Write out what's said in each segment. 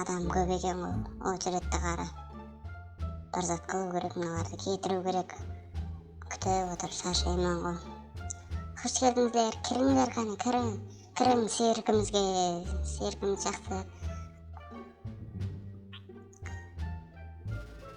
Adam kóp eken ǵoy ocheredti qara bir zat qılıu kerek mınalardı ketiriu kerek kútip otırıp sharshayman ǵoy xosh keldińizler kirińler qáne kiriń kiriń cirkimizge cirkimiz jaqsı.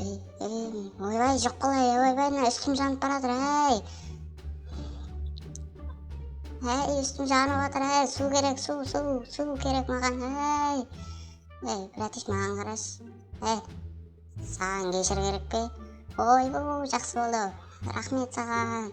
Ey, ey, oybay, joq qılay, oybay, mına ústim janıp baratır, háy! Háy, ústim janıp atır, háy, suw kerek, suw, suw, suw kerek maǵan, háy! Ey, bratish, maǵan qarash, háy, saǵan geshir kerek pe? Oy-bu, jaqsı boldı, raxmet saǵan!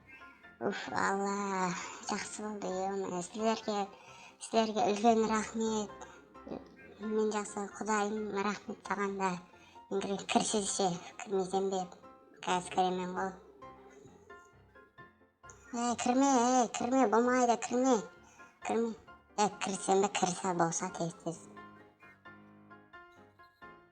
Uff Alla jaqsı boldı yomay sizlerge sizlerge ulken raxmet men jaqsı qudayım raxmet saǵan da men kirgen kirsiz she kirmeysen be kázir kiremen ǵo ey kirme ey kirme bolmaydı kirme kirme ey kirsem be kirsa bolsa tez tez.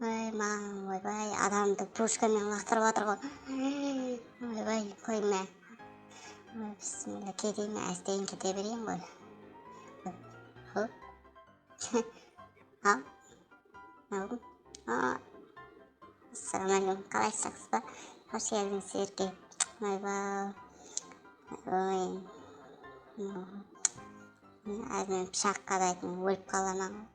Óy mań oybay adamdı pushka men laqtırıp atırǵo oybay koyme óy bismilla keteyme ásteyin kete bereyin ǵoy assalamaleykum qalaysız jaqsızba xosh keldiń sizlerge oybay óy men azir pıshaq qadaytın ólip qalaman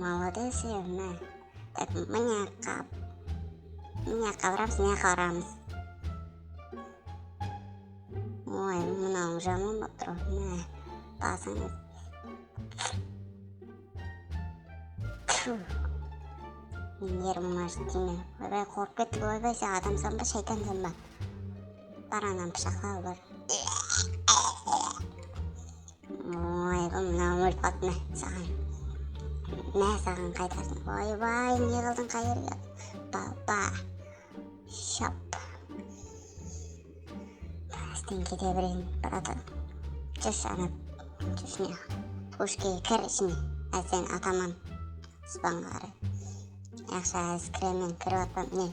Molodes endi dep mine qap mine qabaramız mine qabaramız oy mınauıń jaman bolıp tur ǵoy mine basıń tfu nervıma jeti tiyme oybay qorqıp kettik oybay sen adamsan ba shaytansan ba bar ananı pıshaqla al bar Oy bul mına ulfat mine saǵan mine saǵan qaytarsın oybay ne qıldıń qayerge baba shap tastın kete berin braton júrs ana túsine pushkaga kir ishine házir seni ataman aspanga qaray yaqshı házir kiremen kirip atpam mine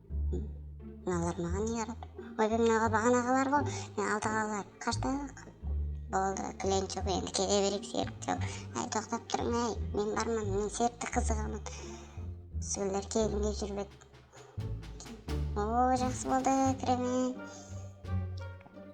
Mınalar maǵan ne yarap oybe mınauǵa baǵan aǵalarǵo men aldı aǵalar qashta boldı klient joq endi kete bereyik serikti jau áy toqtap turıń áy men barman men serikti qızıǵaman sgiller kelinge jurip edi oo jaqsı boldı kiremen.